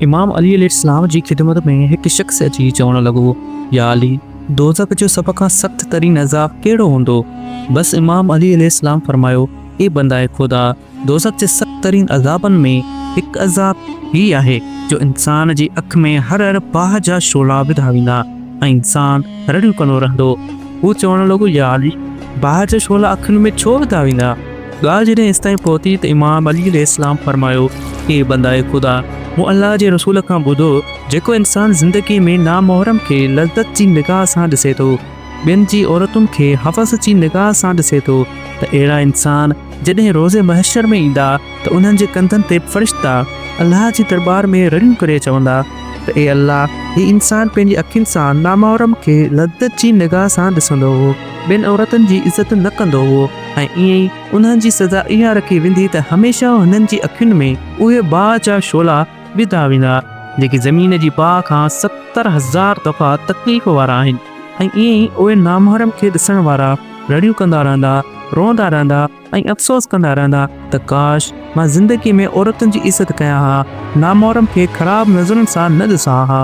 امام علي عليه السلام جي خدمت ۾ هڪ شخص اچي چوڻ لڳو، يا علي! دوزخ جو سڀ کان سخت ترين عذاب ڪهڙو هوندو؟ بس امام علي عليه السلام فرمايو، اي بندهء خدا! دوزخ جي سخت ترين عذابن ۾ هڪ عذاب هي آهي جو انسان جي اک ۾ هر هر باهه جا شعلا وڌا ويندا ۽ انسان رڙيون ڪندو رهندو. هو چوڻ لڳو، يا علي! باهه جا شعلا اکين ۾ ڇو وڌا ويندا؟ ڳالهه جڏهن ايستائين پهتي ته امام علي عليه السلام فرمايو، اي بندائي خدا! مون الله جي رسول کان ٻڌو، جيڪو انسان زندگيء ۾ نامحرم کي لذت جي نگاهه سان ڏسي ٿو، ٻين جي عورتن کي هوس جي نگاهه سان ڏسي ٿو ته اهڙا انسان جڏهن روز محشر ۾ ايندا ته انهن جي ڪنڌن تي فرشتا الله جي درٻار ۾ رڙيون ڪري چوندا ته اي الله! هي انسان پنهنجي اکين سان نامحرم کي لذت جي نگاهه سان ڏسندو هو، ٻين عورتن جي عزت نه ڪندو هو. ۽ ائين ئي انهن جي سزا اها رکي ويندي ته هميشه هنن جي اکين ۾ اهي باهه جا شعلا وڌا ويندا، جيڪي زمين جي باهه کان ستر هزار دفعا تڪليف وارا آهن، ۽ ائين ئي اهي نامحرم کي ڏسڻ وارا رڙيون ڪندا رهندا، روئندا رهندا ۽ افسوس ڪندا رهندا ته ڪاش! مان زندگيء ۾ عورتن جي عزت ڪيان ها، نامحرم کي خراب نظرن سان نه ڏسان ها.